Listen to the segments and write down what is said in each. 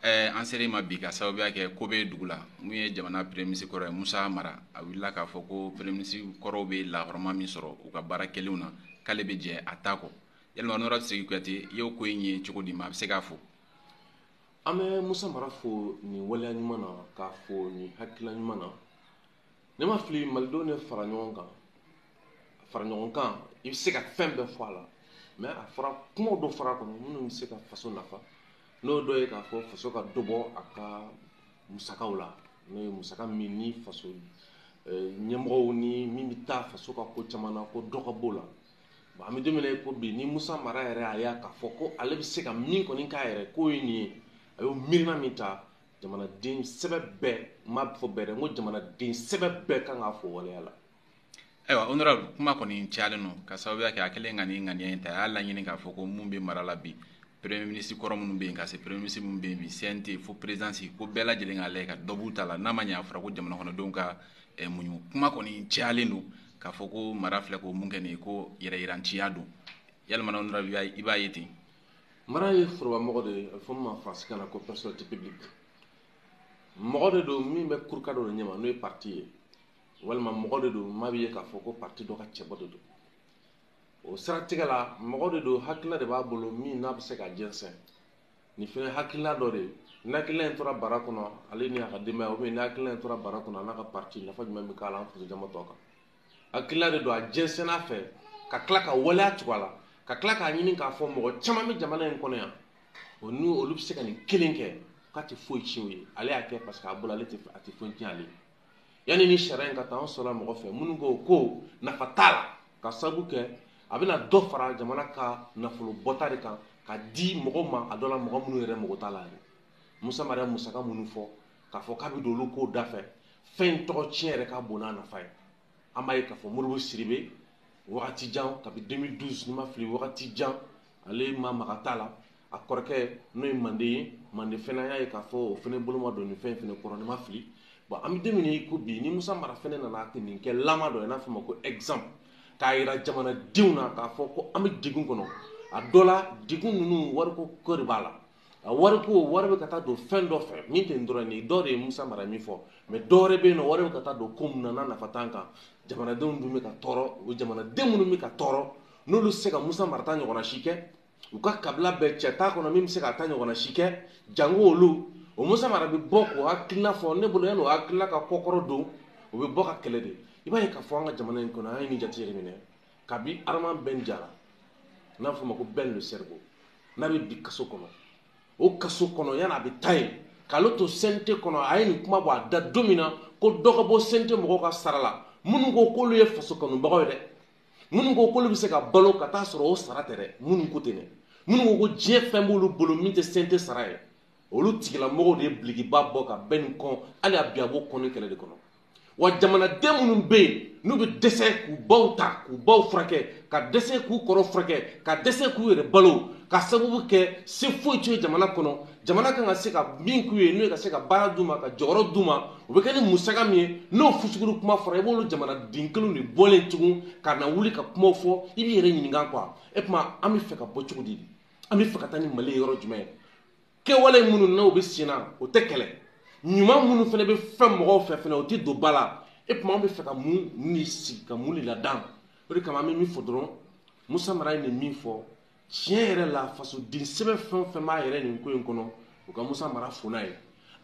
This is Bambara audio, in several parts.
Eh, an sera i ma bi ka sababuya kɛ ko bɛ dugu la min ye jamana premier ministre kɔrɔ ye musa mara a wulila k'a fɔ ko premier ministre kɔrɔw bɛ lahɔrɔma min sɔrɔ u ka baara kɛlenw na k'ale bɛ jɛ a ta kɔ yalima honorable sidiki kuyate i y'o ko in ye cogo di maa bɛ se k'a fɔ an bɛ musa mara fo nin waleya ɲuman na k'a fo nin hakilila ɲuman na ne ma fili malidenw de fara ɲɔgɔn kan fara ɲɔgɔn kan i bɛ se ka fɛn bɛɛ fɔ a la mais a fɔra kumaw dɔ fɔr'a kɔnɔ minnu bɛ se ka faso nafa n'o dɔ ye k'a fɔ faso ka dɔ bɔ a ka musakaw la n'o ye musaka min ni faso eh, ɲɛmɔgɔw ni min bɛ taa faso ka ko caman na ko dɔ ka b'o la bon an bɛ don min na i ko bi ni musa mara yɛrɛ a y'a k'a fɔ ko ale bɛ se ka min kɔni k'a yɛrɛ k'o ye nin ye a y'o miirina min ta jamanaden sɛbɛ bɛɛ m'a fɔ bɛɛ dɛ n ko jamanaden sɛbɛ bɛɛ kan k'a fo waleya la ayiwa honorable kuma kɔni cayalen don ka sababuya kɛ a kɛlen ka nin ŋaniya in ta a y'a laɲini k'a fɔ ko mun bɛ mara la bi premier ministre kɔrɔ minnu bɛ yen ka se premier ministre minnu bɛ yen bi cnt fo présidence ko bɛɛ lajɛlen k'a lajɛ ka dɔ b'u ta la n'a ma ɲɛ a fɔra ko jamanakɔnɔdenw ka eh, muɲu kuma kɔni cayalen don k'a fɔ ko mara filɛ ko mun kɛ nin ye ko yɛrɛyiranciya don yalima honorable i b'a ye ten mara ye forobamɔgɔ de ye a bɛ fɔ min ma faransikan na ko personnalité publique mɔgɔ de don min bɛ kuruka dɔ de ɲɛma n'o ye parti ye walima mɔgɔ de don maa b'a ye k'a fɔ ko parti dɔ ka cɛbɔ de don o siratigɛ la mɔgɔ de don hakilila de b'a bolo min n'a bɛ se ka jɛnsɛn nin fɛnɛ hakilina dɔ de ye ni hakilina in tora bara kɔnɔ ale ni a ka denbaya ou bien ni hakilina in tora bara kɔnɔ a n'a ka parti nafa jumɛn bɛ k'a la an faso jama tɔ kan hakilila de don a jɛnsɛnn'a fɛ ka tila ka waleya tugu a la ka tila k'a ɲini k'a fɔ mɔgɔ caman bɛ jamana in kɔnɔ yan o n'u olu bɛ se ka nin kelen kɛ k'a tɛ foyi tiɲɛ o ye ale y'a kɛ parce que a bolo ale tɛ a tɛ foyi tiɲɛ ale ye yanni nin sariya in ka ta an sɔrɔla mɔgɔ fɛ minnu ko ko nafa t'a la ka sababu kɛ a bɛna dɔ fara jamana ka nafolo bɔta de kan ka di mɔgɔ ma a dɔ la mɔgɔ minnu yɛrɛ mago t'a la yɛrɛ musa mara ye musaka minnu fɔ k'a fɔ k'a bɛ don olu kow da fɛ fɛn tɔgɔ tiɲɛ yɛrɛ ka bon n'a nafa ye an b'a ye k'a fɔ modibo sidibe wagati jan kabi 2012 ni n ma fili wagati jan ale ma mag'a ta la a kɔrɔkɛ n'o ye mande ye mande fɛnɛ an y'a ye k'a fɔ o fɛnɛ bolo ma don nin fɛn fɛnɛ kɔrɔ ni n ma fili bon an bɛ don min i ko bi ni musa mara fɛnɛ nana ka nin kɛ lama dɔ ye n'a fɔ ma ko exemple k'a yira jamanadenw na k'a fɔ ko an bɛ degun kɔnɔ a dɔ la degun ninnu wariko ko de b'a la a wariko wari bɛ ka taa don fɛn dɔ fɛ min tɛ dɔrɔn nin dɔ de ye musa mara min fɔ mais dɔwɛrɛ bɛ yen nɔ wari bɛ ka taa don ko min na nafa t'an kan jamanadenw dun bɛ ka tɔɔrɔ o jamanaden minnu bɛ ka tɔɔrɔ n'olu se ka musa mara ta ɲɔgɔnna si kɛ u ka kabila bɛɛ cɛ t'a kɔnɔ min bɛ se k'a ta ɲɔgɔnna si kɛ jango olu o musa mara bɛ bɔ k'o hakilina fɔ ne bolo yanni o hakilina ka kɔkɔrɔ don o bɛ bɔ k'a kɛlɛ de i b'a ye k'a fɔ an ka jamana in kɔnɔ an ye nin jate yɛrɛ minɛ kabi adama bɛn jara n'a fɔ ma ko bɛn le cerveau n'a bɛ bi kaso kɔnɔ o kaso kɔnɔ yanni a bɛ taa yen k'ale to CNT kɔnɔ a ye nin kuma bɔ a da don min na ko dɔ ka bɔ CNT mɔgɔw ka sara la minnu ko k'olu ye faso kanubagaw ye dɛ minnu ko k'olu bɛ se ka balo ka t'a sɔrɔ o sara tɛ dɛ minnu ko ten dɛ minnu ko ko diɲɛ fɛn b'olu bolo min tɛ CNT sara ye olu tigilamɔgɔw de ye bilikiba bɔ ka ben nin kɔn hali a bi a b'o kɔnni kɛlɛ de kɔnɔ wa jamanaden minnu bɛ yen n'u bɛ dɛsɛ k'u baw ta k'u baw furakɛ ka dɛsɛ k'u kɔrɔ furakɛ ka dɛsɛ k'u yɛrɛ balo ka sababu kɛ se foyi t'u ye jamana kɔnɔ jamana kan ka se ka min k'u ye n'o ye ka se ka baara d'u ma ka jɔyɔrɔ d'u ma o bɛ kɛ ni musaka min ye n'o fusukuru kuma fɔra i b'olu jamanaden kelenw de bɔlen tugun ka na wuli ka kumaw fɔ i b'i yɛrɛ ɲininka quoi e tuma an bɛ fɛ ka bɔ cogo di an bɛ fɛ ka taa ni mali ye yɔrɔ jumɛn kɛwale minnu n'o bɛ sen na o tɛ kɛlɛ ɲuman minnu fana bɛ fɛn mɔgɔw fɛ fana o tɛ don ba la e tuma an bɛ fɛ ka mun de sigi ka mun de ladan o de kama an bɛ min fɔ dɔrɔn musa mara ye nin min fɔ tiɲɛ yɛrɛ la fasoden sɛbɛ fɛn o fɛn b'a yɛrɛ nin ko in kɔnɔ u ka musa mara fo n'a ye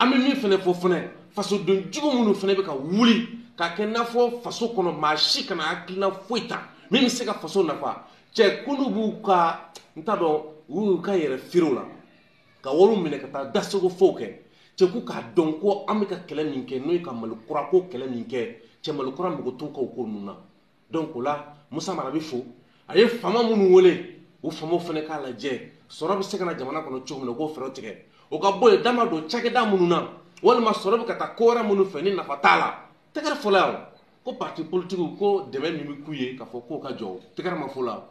an bɛ min fana fɔ fana fasoden jugu minnu fana bɛ ka wuli k'a kɛ i n'a fɔ faso kɔnɔ maa si kana hakilina foyi ta min bɛ se ka faso nafa cɛ k'olu b'u ka n t'a dɔn u y'u ka yɛrɛ feerew la ka wariw minɛ ka taa dasego fow kɛ cɛ k'u k'a dɔn ko an bɛ ka kɛlɛ min kɛ n'o ye ka mali kura ko kɛlɛ min kɛ cɛ mali kura mago t'u ka o ko ninnu na donc o la musa mara bɛ fo a ye faama minnu wele o faamaw fana k'a lajɛ sɔrɔ bɛ se ka na jamana kɔnɔ cogo min na u k'o fɛɛrɛ tigɛ o ka bɔ yen da ma don cakɛda minnu na walima sɔrɔ bɛ ka taa ko wɛrɛ minnu fɛ ni nafa t'a la tɛgɛrɛ fɔla yan ko parti politique ko dɛmɛ min bɛ k'u ye k'a fɔ k'o ka jɔ tɛgɛrɛ ma f'o la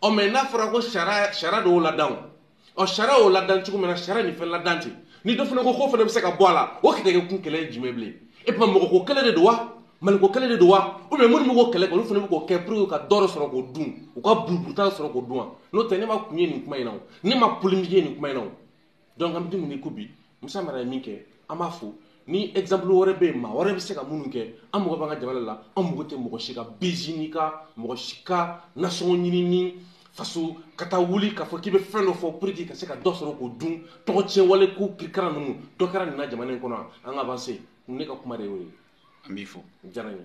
ɔ mais n'a fɔra ko sariya sariya de y'o ladan o ɔ sariya y'o ladan cogo min na sariya nin fɛn ladan ten ni dɔ fana ko k'o fana bɛ se ka bɔ a la o kɛlɛ kɛ kun kɛlɛ ye jumɛn bilen e tuma mɔgɔ ko kɛlɛ de don wa maliko kɛlɛ de don wa ou bien minnu bɛ k'o kɛlɛ kɛ olu fana bɛ k'o kɛ pour que ka dɔ dɔ sɔrɔ k'o dun u ka buruburuta sɔrɔ k'o dun wa n'o tɛ ne ma kun ye nin kuma in na o ne ma polémique ye nin kuma in na o donc an bɛ don min i ko bi musa mara ye min kɛ an b'a fo ni exemple wɛrɛ bɛ yen maa wɛrɛ bɛ se ka minnu kɛ an mago b'an ka jamana la an mago tɛ mɔgɔ si ka bezini ka mɔgɔ si ka nasɔngɔ ɲinini faso ka taa wuli k'a fɔ k'i bɛ fɛn dɔ fɔ pour que ka se ka dɔ sɔrɔ k'o dun tɔgɔ tiɲɛ wale ko kirikara ninnu dɔ kɛra nin na jamana in kɔnɔ an ka avancer ne ka kuma de y'o ye an b'i fo diyara n ye